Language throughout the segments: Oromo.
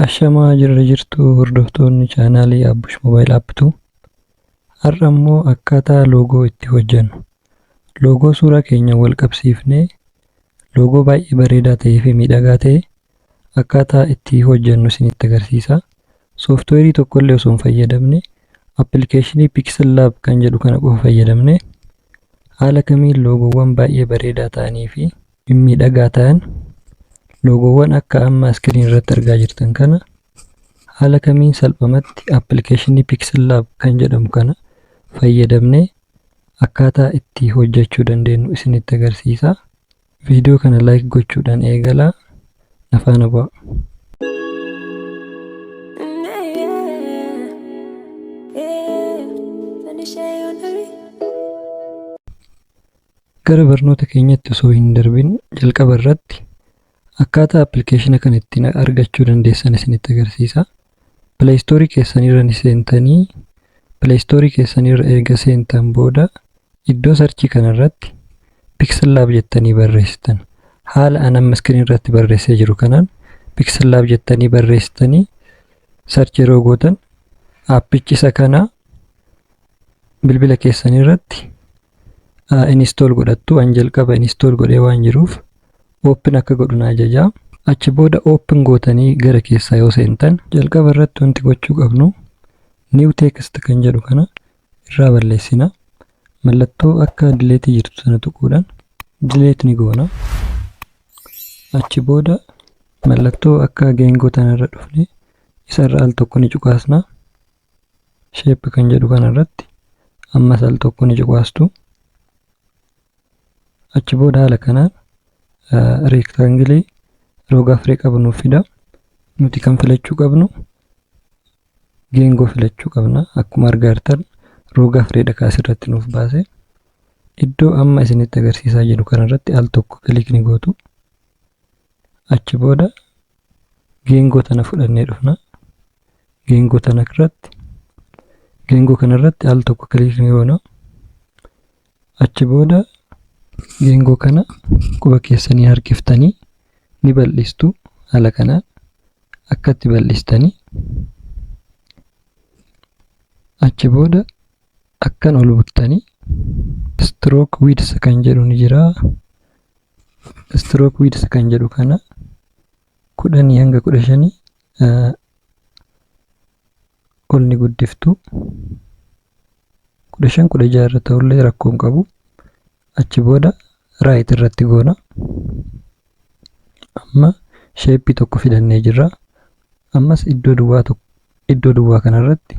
Ashamaa jirra jirtuu hordoftoonni chaanaalii Abbush Mobile App tu har'a immoo akkaataa loogoo itti hojjannu loogoo suuraa keenya wal qabsiifnee loogoo baay'ee bareedaa ta'ee fi miidhagaa ta'e akkaataa itti hojjannu isinitti agarsiisa. Sooftiweerii tokkollee osoo hin fayyadamne appilikeeshinii Pixel Lab kan jedhu kana qofa fayyadamne haala kamiin loogoowwan baay'ee bareedaa ta'anii fi mimmiidhagaa ta'an loogoowwan akka amma iskiriin irratti argaa jirtan kana haala kamiin salphamatti appilikeeshinii Pixel Lab kan jedhamu kana fayyadamnee akkaataa itti hojjechuu dandeenyu isinitti agarsiisa. Viidiyoo kana like gochuudhaan eegalaa na faana bu'aa. Gara barnoota keenyatti osoo hin darbin jalqaba irratti akkaataa appilikeeshina kana ittiin argachuu dandeessan isinitti agarsiisa. Play Store keessanirra ni seentanii Play Store keessanirra erga seentan booda iddoo sarchii kanarratti Pixel Lab jettanii barreessitan. Haala an amma iskiriin irratti barreessee jiru kanaan Pixel Lab jettanii barreessitanii sarchii yeroo gootan aappichi isa kana bilbila keessan irratti install godhattu an jalqaba install godhee waan jiruuf open akka godhu na ajaja achi booda open gootanii gara keessaa yoo seentan jalqaba irratti wanti gochuu qabnu new text kan jedhu kana irraa balleessina mallattoo akka delete jirtu sana tuquudhaan delete ni goona achi booda mallattoo akka geengoo tanarra dhufne isarra al tokko ni cuqaasna shape kan jedhu kana irratti ammas al tokko ni cuqaastu. Achi booda haala kanaan reektaangilii roga afree qabu nuuf fida. Nuti kan filachuu qabnu geengoo filachuu qabna. Akkuma argaa jirtan roga afreedha kan asirratti nuuf baase. Iddoo amma isinitti agarsiisaa jiru kanarratti al tokko kilikni gootu. Achi booda geengoo tana fudhannee dhufna geengoo tana irratti geengoo kana irratti al tokko kiliik ni goona achi booda geengoo kana quba keessanii harkiftanii ni bal'istu haala kanaan akkatti bal'istanii achi booda akkan ol buttanii stroke width kan jedhu ni jira stroke width kan jedhu kana kudhanii hanga kudha shanii ol ni guddiftu kudha shan kudha jaha irra ta'ullee rakkoo hin qabu achi booda raayit irratti goona amma sheeppii tokko fidannee jirra ammas iddoo duwwaa tokko iddoo duwwaa kanarratti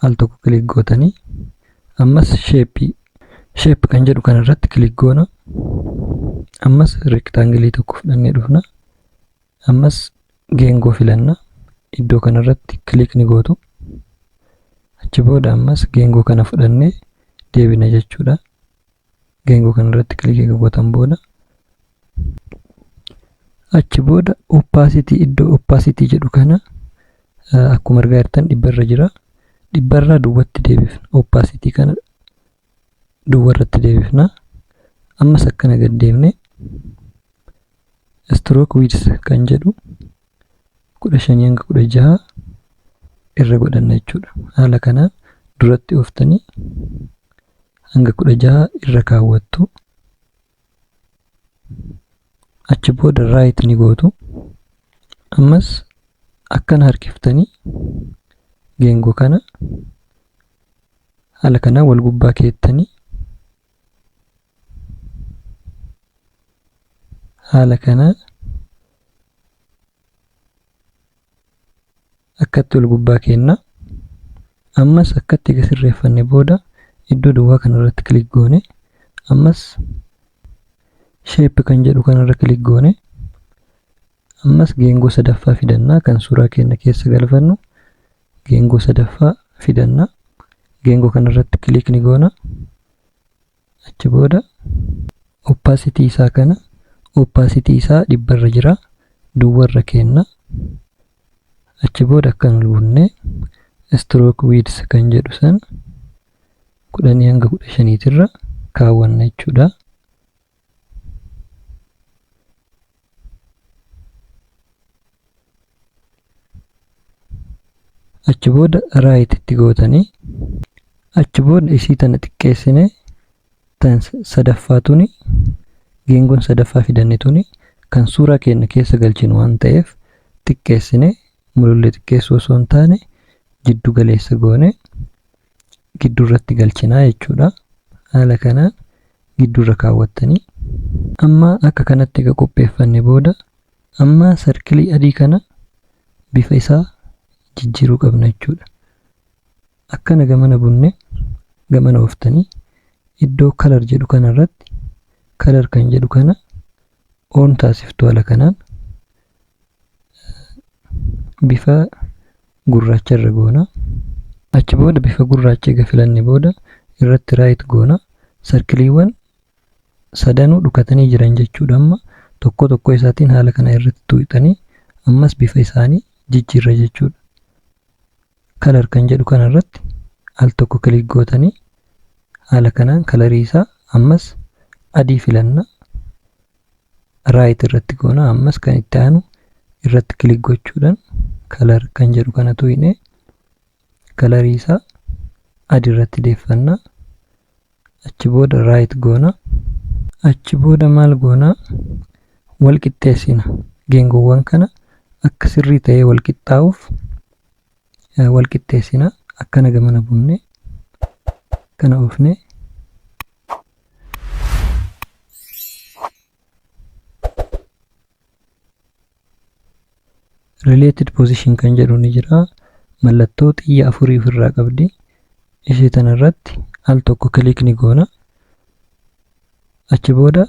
al tokko kilik gootanii ammas sheeppii sheep kan jedhu kana irratti kilik goona ammas rektaangilii tokko fudhannee dhufna ammas geengoo filanna iddoo kana irratti kilik ni gootu achi booda ammas geengoo kana fudhannee deebina jechuudha geengoo kana irratti kilikii erga gootan booda achi booda opacity iddoo opacity jedhu kana akkuma argaa jirtan dhibba irra jira dhibba irraa duwwatti deebifna opacity kana duwwa irratti deebifna ammas akkana gad deemne stroke width kan jedhu kudha shanii hanga kudha jaha irra godhanna jechuudha haala kanaan duratti ooftanii hanga 16 irra kaawwattu achi booda right ni gootu ammas akkana harkiftanii geengoo kana haala kanaan wal gubbaa keettanii haala kanaan akkatti ol gubbaa keenna ammas akkatti ega sirreeffanne booda iddoo duwwaa kana irratti kilik goone ammas sheep kan jedhu kana irra kilik goone ammas geengoo sadaffaa fidannaa kan suuraa keenna keessa galfannu geengoo sadaffaa fidannaa geengoo kana irratti kilik ni goona Achi booda opacity isaa kana opacity isaa dhibba irra jira duwwa irra keenna. Achi booda akkan ol bunnee stroke width kan jedhu san kudhanii hanga kudha shaniitirra kaawwanna jechuudha. achi booda right itti gootanii achi booda isii tana xiqqeessine tan sadaffaa tuni geengoon sadaffaa fidanne tuni kan suuraa keenya keessa galchinu waan ta'eef xiqqeessine mulullee xiqqeessuu osoo hin taane jiddu galeessa goone gidduu irratti galchinaa jechuudha. Haala kanaan gidduu irra kaawwattanii amma akka kanatti egaa qopheeffanne booda amma sarkilii adii kana bifa isaa jijjiiruu qabna jechuudha. Akkana gamana bunne gamana ooftanii iddoo kalar jedhu kana irratti kalar kan jedhu kana oon taasiftu haala kanaan bifa gurraacha irra goona achi booda bifa gurraacha egaa filanne booda irratti raayit goona sarkiliiwwan sadanuu dhukatanii jiran jechuudha amma tokko tokko isaatiin haala kana irratti tuuxanii ammas bifa isaanii jijjiirra jechuudha kalar kan jedhu kana irratti al tokko kilik gootanii haala kanaan kalarii isaa ammas adii filanna right irratti goona ammas kan itti aanu irratti kilik gochuudhaan kalar kan jedhu kana tuqne kalarii isaa adi irratti deeffanna achi booda right goona achi booda maal goona wal qixxeessina geengoowwan kana akka sirrii ta'ee wal qixxaa'uuf wal qixxeessina akkana gamana buunne kana oofne related position kan jedhu ni jira mallattoo xiyya afurii ofirraa qabdi ishee tana irratti al tokko kiliik ni goona achi booda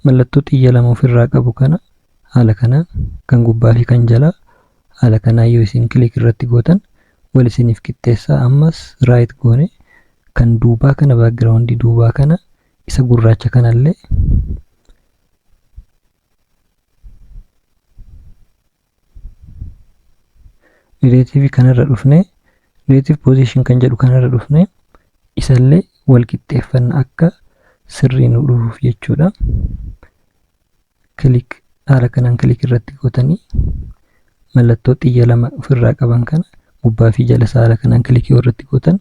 mallattoo xiyya lama ofirraa qabu kana haala kanaan kan gubbaa fi kan jalaa haala kanaan yoo isin kiliik irratti gootan wal isiniif qixxeessaa ammas right goone kan duubaa kana background duubaa kana isa gurraacha kanallee relative kanarra dhufne relative position kan jedhu kanarra dhufne isallee wal qixxeeffanna akka sirrii nu dhufuuf jechuudha. kilik haala kanaan kilik irratti gootanii mallattoo xiyya lama ofirraa qaban kana gubbaa fi jala isaa haala kanaan kilik yoo irratti gootan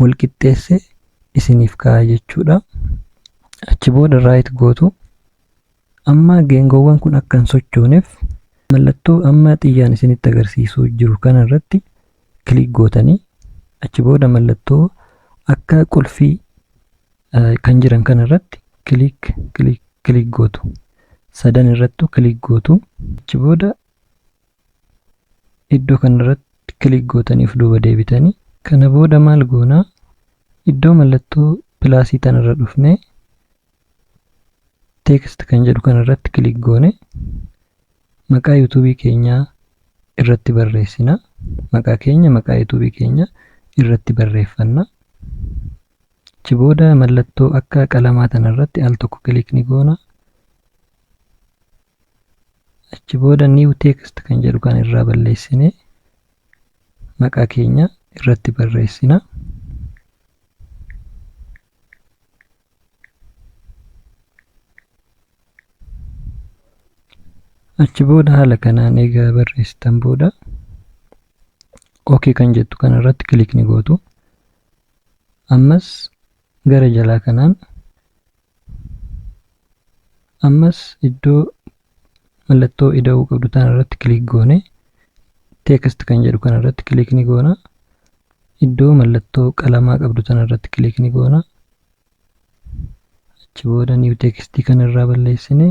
wal qixxeessee isiniif kaa'a jechuudha. Achi booda raayit gootu amma geengoowwan kun akka hin sochooneef mallattoo amma xiyyaan isinitti agarsiisuu jiru kana irratti click gootanii achi booda mallattoo akka qulfii kan jiran kana irratti click click click gootu sadan irrattu click gootu achi booda iddoo kana irratti click gootaniif duuba deebitanii kana booda maal goonaa iddoo mallattoo pilaasii tan irra dhufnee text kan jedhu kan irratti click goone Maqaa youtube keenya irratti barreessina. Maqaa keenya maqaa youtube keenya irratti barreeffanna. Achi booda mallattoo akka qalamaa tana irratti al tokko kilik ni goona. Achi booda new text kan jedhu kan irraa balleessine maqaa keenya irratti barreessina. achi booda haala kanaan egaa barreessitan booda ok kan jettu kana irratti kilik ni gootu ammas gara jalaa kanaan ammas iddoo mallattoo ida'uu qabdu tana irratti kilik goone text kan jedhu kana irratti kilik ni goona iddoo mallattoo qalamaa qabdu tana irratti kilik ni goona achi booda new text kan irraa balleessine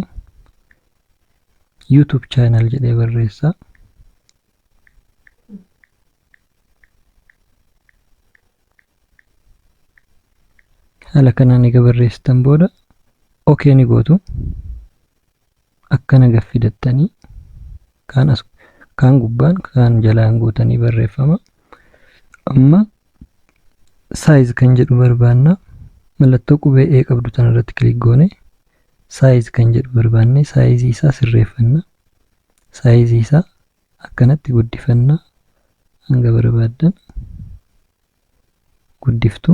youtube channel jedhee barreessa haala kanaan egaa barreessitan booda okee ni gootu akkana gaffi dattanii kaan as kaan gubbaan kaan jalaan guutanii barreeffama amma saayiz kan jedhu barbaanna mallattoo qubee ee qabdu tan irratti kilik goone saayiz kan jedhu barbaanne saayizii isaa sirreeffanna saayizii isaa akkanatti guddifanna hanga barbaaddan guddiftu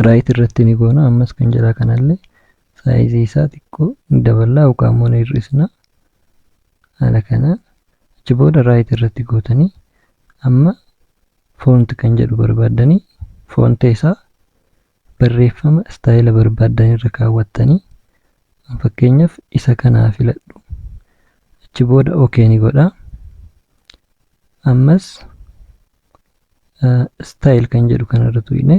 raayit irratti ni goona ammas kan jalaa kanallee saayizii isaa xiqqoo daballaa yookaan immoo ni hir'isna haala kana achi booda raayit irratti gootanii amma foonti kan jedhu barbaaddanii foonti isaa barreeffama istaayila barbaaddan irra kaawwattanii an fakkeenyaaf isa kana haa filadhu achi booda ok ni godha ammas istaayil kan jedhu kana irra tuqne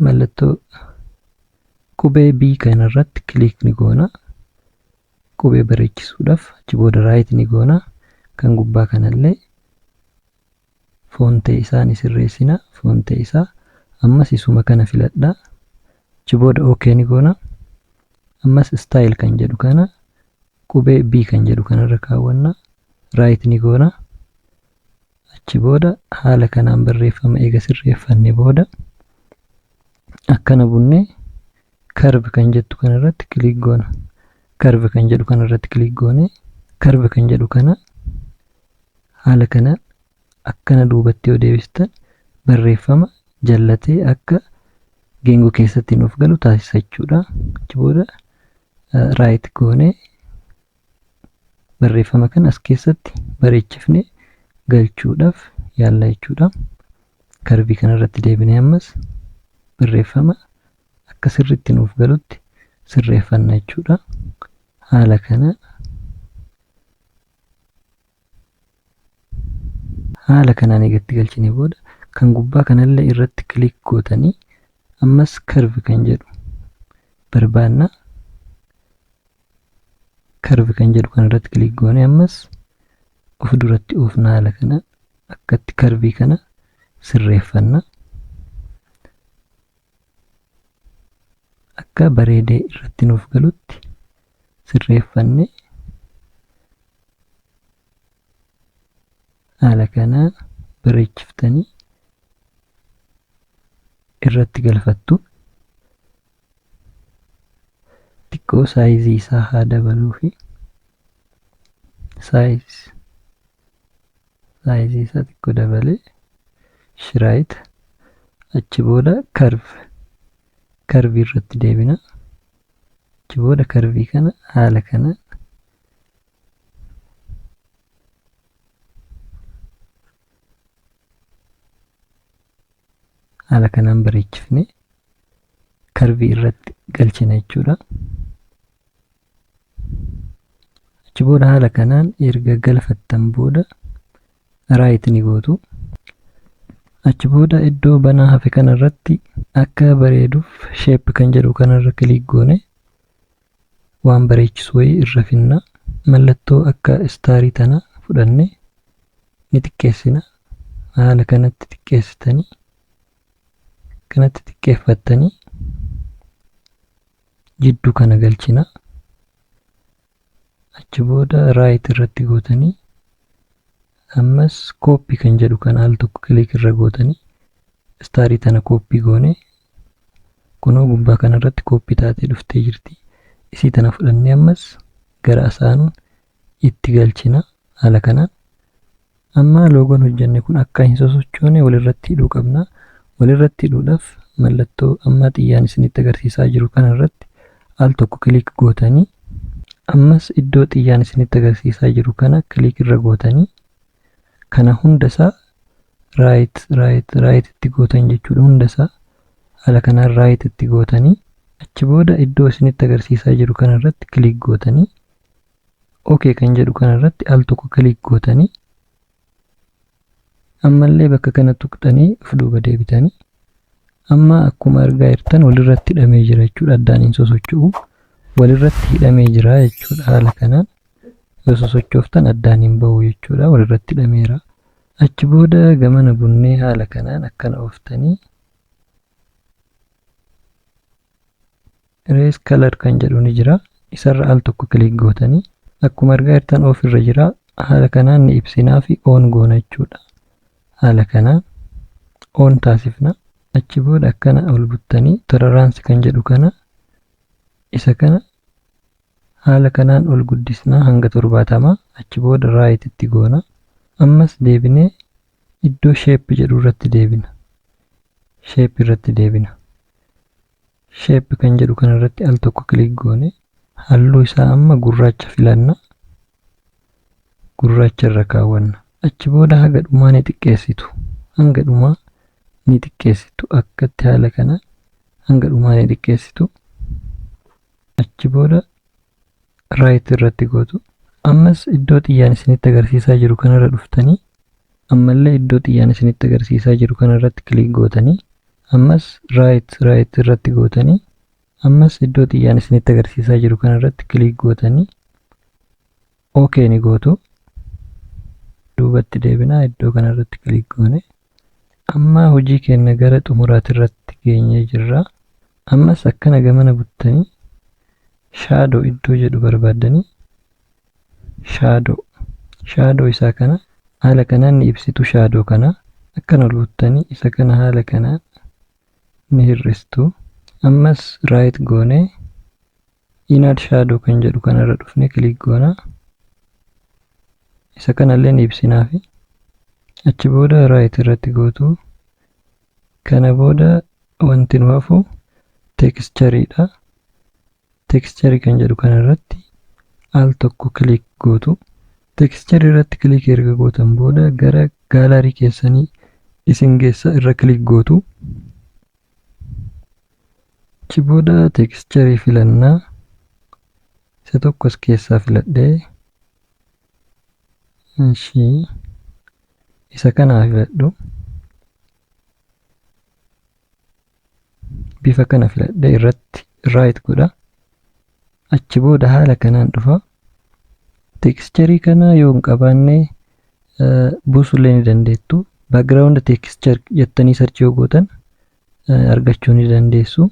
mallattoo qubee B kana irratti kiliik ni goona qubee bareechisuudhaaf achi booda raayit ni goona kan gubbaa kanallee Fontee isaa ni sirreessina. Fontee isaa ammas isuma kana filadha. Achi booda OK ni goona. Ammas style kan jedhu kana qubee B kan jedhu kanarra kaawwanna. Right ni goona. Achi booda haala kanaan barreeffama eega sirreeffanne booda akkana bunnee Curve kan jettu kana irratti click goona. Curve kan jedhu kana irratti click goone curve kan jedhu kana haala kanaan akkana duubatti yoo deebistan barreeffama jallatee akka geengoo keessatti nuuf galu taasisa jechuudha. Achi booda right goone barreeffama kana as keessatti bareechifne galchuudhaaf yaalla jechuudha. Karbii kana irratti deebinee ammas barreeffama akka sirriitti nuuf galutti sirreeffanna jechuudha. Haala kana haala kanaan eegatti galchine booda kan gubbaa kanallee irratti kiliik gootanii ammas karvi kan jedhu barbaanna. Karvi kan jedhu kan irratti kiliik goone ammas of duratti oofna haala kana akkatti karvii kana sirreeffanna. akka bareedee irratti nuuf galutti sirreeffanne haala kanaa bareechiftanii irratti galfattu xiqqoo saayizii isaa haa dabaluu fi saayiz saayizii isaa xiqqoo dabalee shiraayit achi booda karvi karvii irratti deebina achi booda karvii kana haala kana haala kanaan bareechifne karvii irratti galchina jechuudha. achi booda haala kanaan erga galfattan booda raayit ni gootu achi booda iddoo banaa hafe kana irratti akka bareeduuf sheep kan jedhu kana irra kiliik goone waan bareechisu wayii irra finna mallattoo akka istaarii tana fudhanne ni xiqqeessina haala kanatti xiqqeessitanii kanatti xiqqeeffattanii jiddu kana galchina achi booda raayit irratti gootanii ammas kooppi kan jedhu kan al tokko kiliik irra gootanii istaarii tana kooppi goone kunoo gubbaa kana irratti kooppi taatee dhuftee jirti isii tana fudhannee ammas gara asaanuun itti galchina haala kanaan amma loogoon hojjanne kun akka hin sosochoone walirratti hidhuu qabna walirratti hidhuudhaaf mallattoo amma xiyyaan isinitti agarsiisaa jiru kana irratti al tokko kiliik gootanii ammas iddoo xiyyaan isinitti agarsiisaa jiru kana kiliik irra gootanii kana hunda isaa raayit raayit raayit itti gootan jechuudha hunda isaa haala kanaan raayit itti gootanii achi booda iddoo isinitti agarsiisaa jiru kana irratti kiliik gootanii ok kan jedhu kana irratti al tokko kiliik gootanii ammallee bakka kana tuqxanii of duuba deebitanii amma akkuma argaa jirtan walirratti hidhamee jira jechuudha addaan hin sosocho'u walirratti hidhamee jira jechuudha haala kanaan yoo sosochooftan addaan hin ba'u jechuudha walirratti hidhameera achi booda gamana bunnee haala kanaan akkana ooftanii Erase color kan jedhu ni jira. Isarra al tokko click gootanii akkuma argaa jirtan off irra jira. Haala kanaan ni ibsinaa fi on goona jechuudha. Haala kanaan on taasifna. Achi booda akkana ol buttanii tolerance kan jedhu kana isa kana haala kanaan ol guddisnaa hanga torbaatama achi booda right itti goona. Ammas deebinee Iddoo shape jedhu irratti deebina. Shape irratti deebina. Shape kan jedhu kana irratti al tokko click goone halluu isaa amma gurraacha filanna. Gurraacha irra kaawwanna. Achi booda haga dhumaa ni xiqqeessitu. Hanga dhumaa ni xiqqeessitu. Akkatti haala kana hanga dhumaa ni xiqqeessitu. Achi booda right irratti gootu. Ammas iddoo xiyyaan isinitti agarsiisaa jiru kanarra dhuftanii ammallee iddoo xiyyaan isinitti agarsiisaa jiru kanarratti kiliik gootanii ammas right right irratti gootanii ammas iddoo xiyyaan isinitti agarsiisaa jiru kanarratti kiliik gootanii ok ni gootu duubatti deebinaa iddoo kana irratti kiliik goone amma hojii keenya gara xumuraati irratti geenyee jirra ammas akkana gamana buttanii shaadoo iddoo jedhu barbaaddanii shaadoo shaadoo isaa kana haala kanaan ni ibsitu shaadoo kana akkan ol buttanii isa kana haala kanaan ni hir'istu ammas raayit goonee inner shadow kan jedhu kanarra dhufne click goona isa kanallee ni ibsinaafi achi booda right irratti gootu kana booda wanti nu hafu texture dha texture kan jedhu kanarratti al tokko click gootu texture irratti click erga gootan booda gara gallery keessanii isin geessa irra click gootu Achi booda texture filanna. Isa tokko as keessaa filadhee. Ishii isa kanaa filadhu. Bifa kana filadhee irratti right godha. Achi booda haala kanaan dhufa. Tekischerii kana yoo hin qabaanne buusullee ni dandeettu. Background texture jettanii sarchii yoo gootan argachuu ni dandeessu.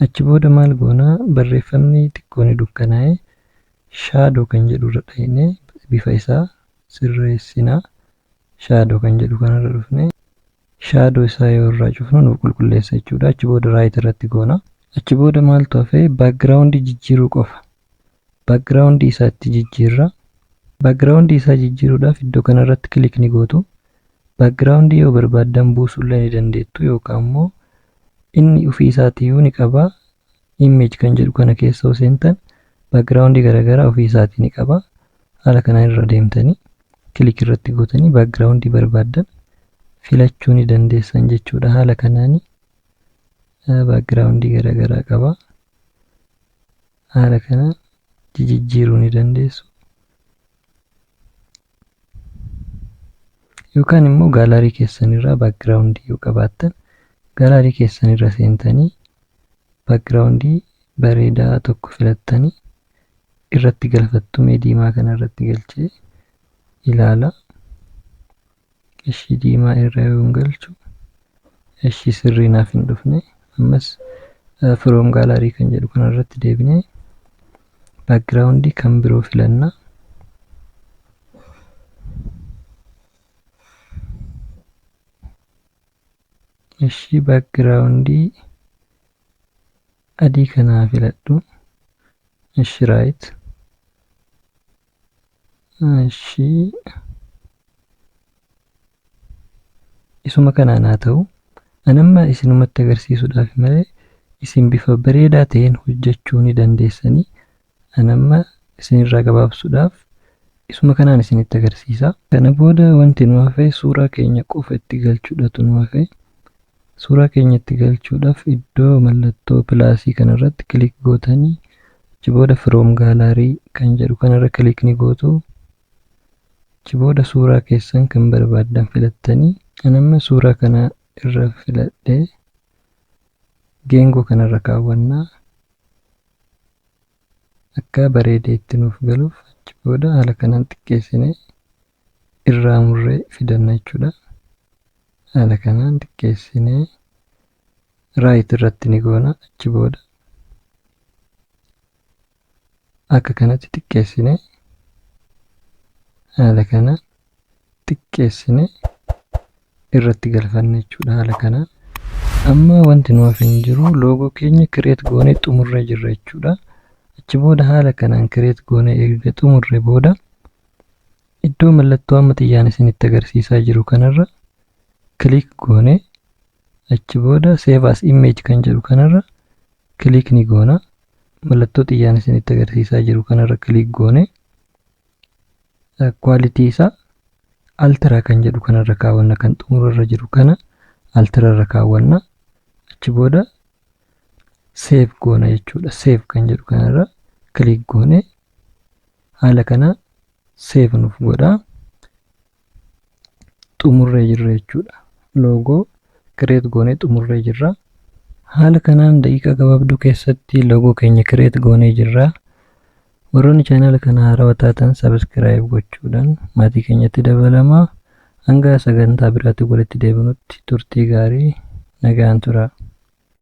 Achi booda maal goona barreeffamni xiqqoo ni dukkanaa'e shaadoo kan jedhu irra dhayne bifa isaa sirreessina. Shaadoo kan jedhu kanarra dhufne shadow isaa yoo irraa cufnu nuuf qulqulleessa jechuudha achi booda right irratti goona achi booda maaltu hafe background jijjiiruu qofa background isaa itti jijjiirra background isaa jijjiiruudhaaf iddoo kana irratti kilik ni gootu background yoo barbaaddan buusuullee ni dandeettu yookaan immoo inni ofii isaatiyyuu ni qaba image kan jedhu kana keessa yoo seentan background garaagaraa ofii isaatii ni qaba haala kanaan irra deemtanii kilik irratti gootanii background barbaaddan filachuu ni dandeessan jechuudha haala kanaan background garaagaraa qaba haala kanaan jijijjiiruu ni dandeessu yookaan immoo gaalaarii keessanirraa baakgiraawundii yoo qabaattan gaalaarii keessanirra seentanii baakgiraawundii bareedaa tokko filattanii irratti galfattu mee diimaa kana irratti galchee ilaala ishii diimaa irra yoon galchu Eshi sirrii naaf hin dhufne ammas from gallery kan jedhu kana irratti deebinee background kan biroo filanna. Eshi background adii kanaa filadhu. Eshi right. Ishii isuma kanaan haa ta'u. An amma isinumatti agarsiisuudhaaf malee isin bifa bareedaa ta'een hojjechuu ni dandeessanii. An amma isinirraa gabaabsuudhaaf isuma kanaan isinitti agarsiisa. Kana booda wanti nu hafe suuraa keenya qofa itti galchuudhatu nu hafe. Suuraa keenya itti galchuudhaaf iddoo mallattoo pilaasii kanarratti kilik gootanii achi booda From Gallery kan jedhu kanarra kilik ni gootu. Achi booda suuraa keessan kan barbaaddan filattanii an amma suuraa kana irra filadhee geengoo kanarra kaawwannaa akka bareedee itti nuuf galuuf achi booda haala kanaan xiqqeessinee irraa murree fidanna jechuudha. Haala kanaan xiqqeessinee raayit irratti ni goona achi booda akka kanatti xiqqeessine haala kana xiqqeessine irratti galfanne jechuudha haala kana amma wanti nu hafe hin jiru loogoo keenya kireet goonee xumurree jirra jechuudha achi booda haala kanaan kireet goonee erga xumurre booda Iddoo mallattoo amma xiyyaan isinitti agarsiisaa jiru kanarra click goone achi booda save as image kan jedhu kanarra click ni goona. Mallattoo xiyyaan isinitti agarsiisaa jiru kanarra click goone quality isaa altira kan jedhu kanarra kaawwanna kan xumurarra jiru kana altirarra kaawwanna achi booda save goona jechuudha. Save kan jedhu kanarra click goone Haala kanaa save nuuf godhaa. Xumurree jirra jechuudha. Loogoo create goonee xumurree jirra. Haala kanaan daqiiqaa gabaabduu keessatti loogoo keenya create goonee jirra. Warroonni chaanaala kana haarawa taatan subscribe gochuudhaan maatii keenyatti dabalamaa. Hanga sagantaa biraatti walitti deebinutti turtii gaarii nagaan turaa.